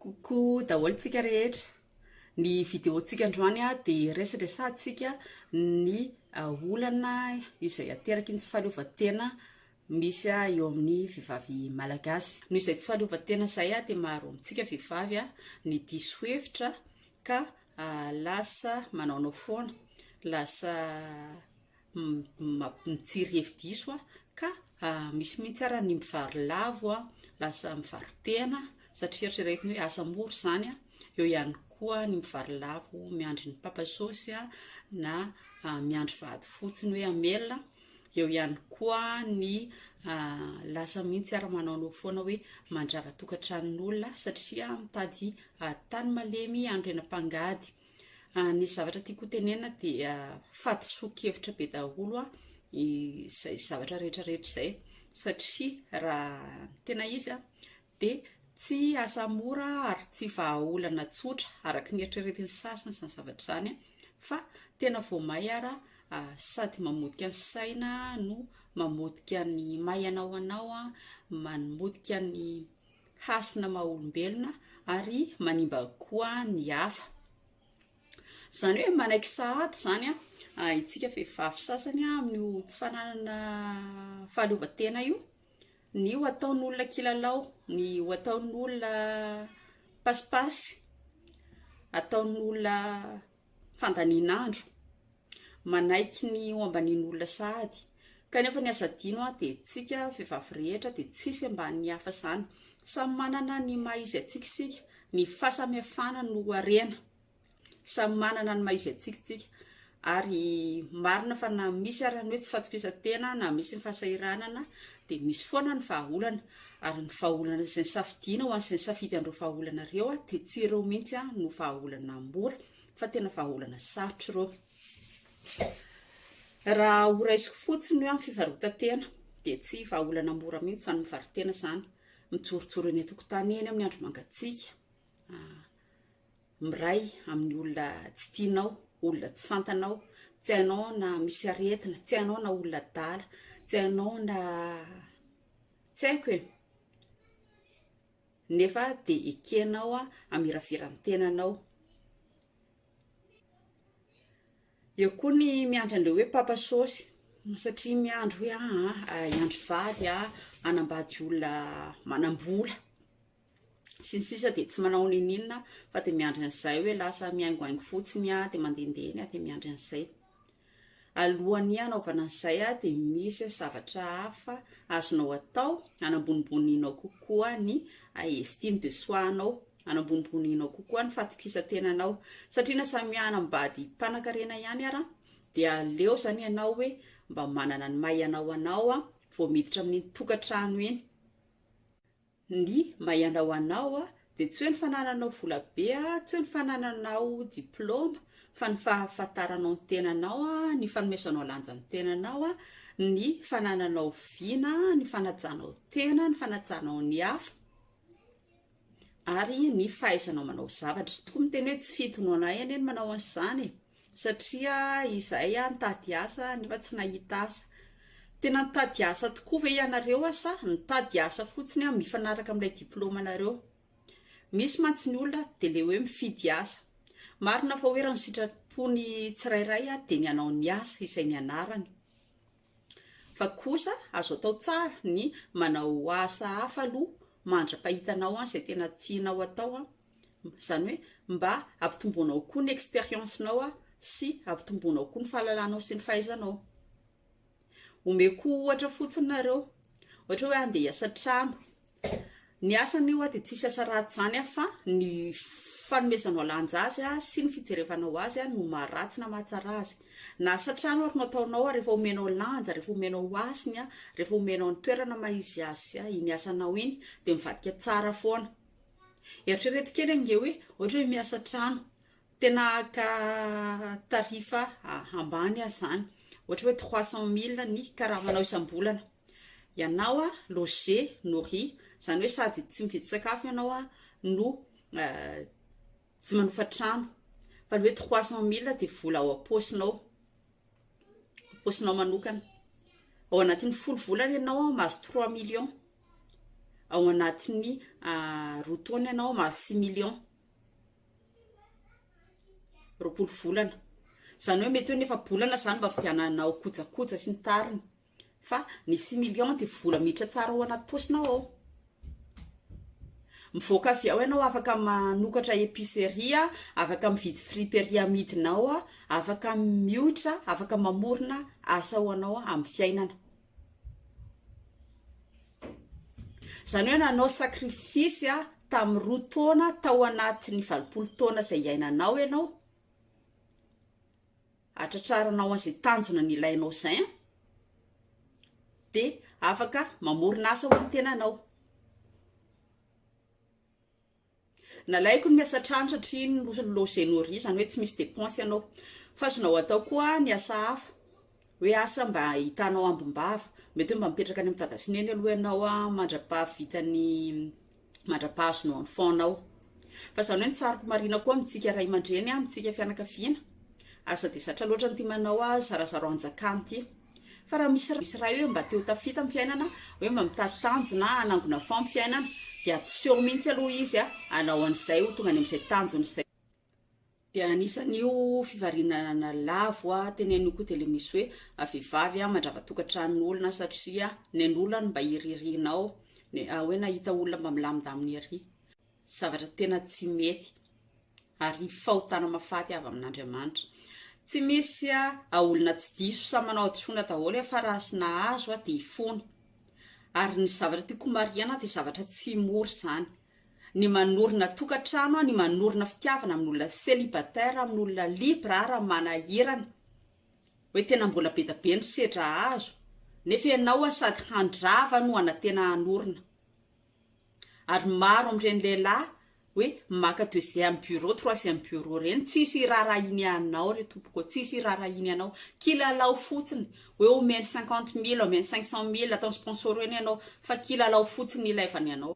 Coucou daholo tsika rehetra, ny vidéo tsika androany dia resadresahantsika ny olana izay ateraky ny tsy fahaleovantena misy eo amin'ny vehivavy malagasy, noho izay tsy fahaleovantena izay dia maro amintsika vehivavy ny diso hevitra ka lasa manaonao foana, lasa mitsiry hevi-diso aho ka misy mihitsy ary ny mivaro lavo aho, lasa mivaro-tena satria eritreretiny hoe asa moa ry izany, eo ihany koa ny mivaro lavo miandry ny papa saosy na miandry vady fotsiny hoe hamelona, eo ihany koa ny lasa mihitsy ary manaonao foana hoe mandrava tokantranon'olona satria mitady tany malemy hanorenam-pangady. Ny zavatra tiako ho tenenina dia fahadisoan-kevitra be daholo izay zavatra rehetra rehetra izay, satria raha ny tena izy an, dia tsy asa mora ary tsy vahaolana tsotra araka ny eritreretin'ny sasany izany zavatra izany fa tena vao may ara sady mamotika ny saina no mamotika ny maihana ho anao an, mamotika ny hasina maha-olombelona ary manimba koa ny hafa. Izany hoe manaiky sahady izany isika vehivavy sasany amin'io tsy fananana fahaleovantena io, ny ho ataon'olona kilalao, ny ho ataon'olona pasipaisy, ataon'olona fandanian'andro, manaiky ny ho ambanin'olona sahady, kanefa ny azo adino aho dia tsika vehivavy rehetra dia tsisy ambanin'ny hafa izany, samy manana ny maha izy antsika isika, ny fahasamihafana no harena, samy manana ny maha izy antsika tsika, ary marina fa na misy ary ny hoe tsy fatokisan-tena na misy ny fahasahiranana dia misy foana ny vahaolana, Ary ny vahaolana izay nisafidiana ho an'izay nisafidy an'ireo vahaolana ireo dia tsy ireo mihitsy no vahaolana mora fa tena vahaolana sarotra ireo. Raha horaisiko fotsiny hoe amin'ny fivarotantena dia tsy vahaolana mora mihitsy izany mivarotena izany. Mijorojoro eny an-tokotany eny amin'ny andro mangatsiaka, ah, miray amin'ny olona tsy tianao, olona tsy fantanao, tsy hainao na misy aretina, tsy hainao na olona adala, tsy hainao na Tsy haiko e! nefa dia ekenao hamirafira ny tenanao. Eo koa ny miandry an'ireo hoe papa sôsy satria miandry hoe aah hiandry vady aho hanambady olona manam-bola. sy ny sisa dia tsy manao n'inon'inona fa dia miandry an'izay hoe lasa mihaingohaingo fotsiny aho dia mandehandeha eny aho dia miandry an'izay alohan'ny hanaovana an'izay aho dia misy zavatra hafa azonao atao hanamboniboninao kokoa ny estime de soi anao hanamboniboninao kokoa ny fatokisan-tenanao satria na samy hanambady mpanankarena ihany ara dia aleo izany ianao hoe mba manana ny maha ianao anao a vao miditra amin'ny tokantrano eny ny mba ianao anao a, dia tsy hoe ny fanananao vola be a, tsy hoe ny fanananao diploma, fa ny fahafantaranao ny tenanao a, ny fanomezanao lanja ny tenanao a, ny fanananao vina, ny fanajanao tena, ny fanajanao ny hafa, ary ny fahaizanao manao zavatra, tokoa miteny hoe tsy fidinao anie ny manao an'izany e! Satria izahay nitady asa nefa tsy nahita asa. Tena nitady asa tokoa ve ianareo sa nitady asa fotsiny mifanaraka amin'ilay diplaomanareo? Misy mantsy ny olona dia ilay hoe mifidy asa. Marina fa hoe raha ny sitrapon'ny tsirairay dia ny hanao ny asa izay nianarany. Fa kosa azo atao tsara ny manao asa hafa aloha mandra-pahitanao an izay tena tianao atao an, izany hoe mba ampitomboanao koa ny expérience nao sy ampitomboanao koa ny fahalalanao sy ny fahaizanao. Omeko ohatra fotsiny nareo, ohatra hoe andeha hiasa an-trano Ny asany oa dia tsisy asa ratsy izany an fa ny fanomezanao lanja azy sy ny fijerevanao azy no maha ratsy na maha tsara azy. Na asa trano ary no ataonao rehefa omenao lanja, rehefa omenao hasiny an, rehefa omenao ny toerana maha izy azy iny asanao iny dia mivadika tsara foana. Eritrereto kely ange hoe ohatra hoe miasa trano, tena haka tarif ambany aza izany, ohatra hoe trois cent mille ny karamanao isam-bolana, Ianao loger, nourrir, izany hoe sady tsy mividy sakafo ianao no tsy manofa trano. Fa ny hoe trois cent mille dia vola ao am-paosinao, am-paosinao manokana. Ao anatin'ny folo volana ianao mahazo trois millions, ao anatin'ny roa taona ianao mahazo six millions, roapolo volana. Izany hoe mety hoe ny efa-bolana izany mba hividiananao kojakoja sy ny tariny. Fa ny six millions dia vola miditra tsara ao anaty paosinao ao. Mivoaka avy ao ianao afaka manokatra epicerie, afaka mividy friperie amidinao, afaka mioitra, afaka mamorona asa ho anao amin'ny fiainana. Izany hoe nanao sacrifice tamin'ny roa taona tao anatin'ny valopolo taona izay iainanao ianao atratraranao an'izay tanjona nilainao izay an! dia afaka mamorona asa ho an'ny tenanao. Nalaiko ny miasa an-trano satria iny no logements riz, izany hoe tsy misy dépenses ianao. Fa azonao atao koa ny asa hafa, hoe asa mba ahitanao ambim-bava. Mety hoe mba mipetraka any amin'ny dada sy neny aloha ianao mandra-pahavitan'ny mandrapahazo no enfant nao fa zany hoe ny tsaroko marina koa amintsika ray aman-dreny amintsika fianakaviana aza de zatra loatra n'ity manao azy zarazarao anjakany ity fa raha misy misy ray hoe mba teo tafita amin'ny fiainana hoe mba mitady tanjona hanangona fao amin'ny fiainana dia atoseo mihitsy aloha izy a hanao an'izay ho tonga any amin'izay tanjona izay Dia anisan'io fivarinana lavo teneniko io dia ilay misy hoe vehivavy mandrava tokantranon'olona satria nen'olona ny mba iririanao, hoe nahita olona mba milamindamina ery. Zavatra tena tsy mety ary fahotana mahafaty avy amin'Andriamanitra. Tsy misy olona tsy diso, samy manao hadisoana daholo fa raha sy nahazo dia fony. Ary ny zavatra tiako homarihina dia zavatra tsy mora izany. ny manorina tokantrano, ny manorina fitiavana amin'olona célibataire, amin'olona libre ary amin'ny manahirana, hoe tena mbola be dia be ny sedra azo, nefa ianao sady handrava no hanantena hanorina, ary maro amin'ireny lehilahy hoe maka deuxième bureau, troisième bureau ireny, tsisy hiraharahiany anao re tompoko ô, tsisy hiraharahiany anao, kilalao fotsiny, hoe omeny cinquante mille, omeny cinq cent mille, ataony sponsor eny ianao, fa kilalao fotsiny ilaivany anao.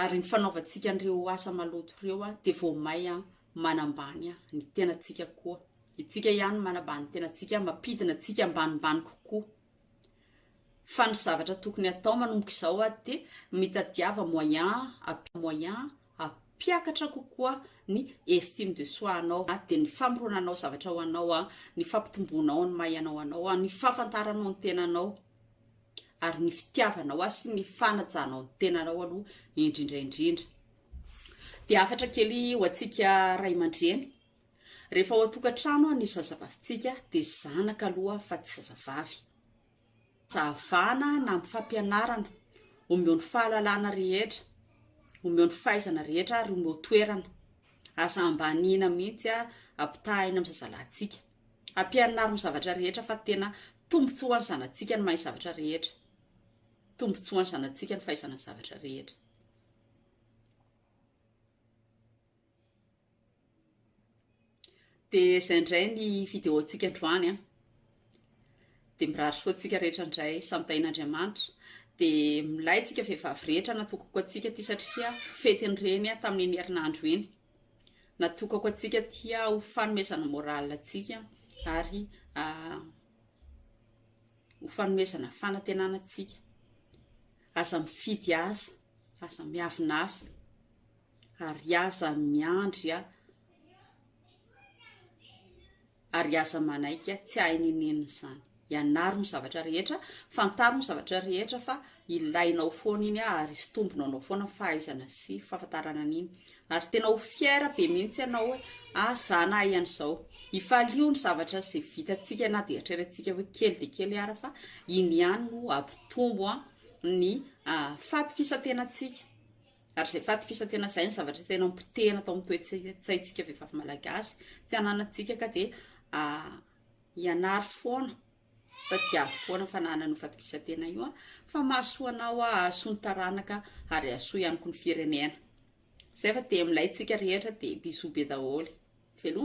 Ary ny fanaovantsika an'ireo asa maloto ireo dia vao may manambany ny tenantsika koa. Itsika ihany manambany ny tenantsika, mampidina antsika ambanimbany kokoa. Fa ny zavatra tokony hatao manomboka izao dia mitadiava moyen moyen hampiakatra kokoa ny estime de soi anao, dia ny famoronanao zavatra ho anao, ny fampitomboanao ny maha ianao anao, ny fahafantaranao ny tenanao. ary ny fitiavanao ahy sy ny fanajanao ny tenanao aloha indrindra indrindra. Dia hafatra kely ho antsika ray aman-dreny, rehefa ao an-tokantrano ny zazavavintsika dia zanaka aloha fa tsy zazavavy. Fahavana na amin'ny fampianarana, omeo ny fahalalana rehetra, omeo ny fahaizana rehetra ary omeo toerana. Aza ambaniana mihitsy ampitahaina amin'ny zazalahintsika. Ampianaro ny zavatra rehetra fa tena tombontsoa ho an'ny zanatsika ny mahay zavatra rehetra. Tombontsoa ho an'ny zanatsika ny fahaizana ny zavatra rehetra. Dia izay indray ny vidéo-tsika androany an. Dia mirary soa antsika rehetra indray samy tahin'Andriamanitra. Dia milay tsika vehivavy rehetra natokako antsika ity satria fetin'ny reny tamin'iny herinandro iny. Natokako antsika tia ho fanomezana morale antsika ary ho fanomezana fanantenana antsika. Aza mifidy aza, aza miavona aza ary aza miandry ahy. ary aza manaiky tsy hahay ny nenina izany. Ianaro ny zavatra rehetra, fantaro ny zavatra rehetra fa ilainao foana iny ary sitombina anao foana fahaizana sy fahafantarana an'iny. Ary tena ho fier be mihitsy ianao hoe ah za nahay an'izao. Hifalio ny zavatra izay vitantsika na dia eritreretintsika hoe kely dia kely ara fa iny ihany no hampitombo ny fatokisan-tenantsika. Ary izay faty f'isa tena izay no zavatra tena nipotehina tao amin'ny toe-tsaintsika vehivavy malagasy tsy ananantsika ka dia ianaro foana tadiavo foana fananana io faty f'isa tena io an fa mahasoa anao a hahasoa ny taranaka ary hahasoa ihany koa ny firenena. Izay fa dia milay tsika rehetra dia bisous be daholo. Veloma.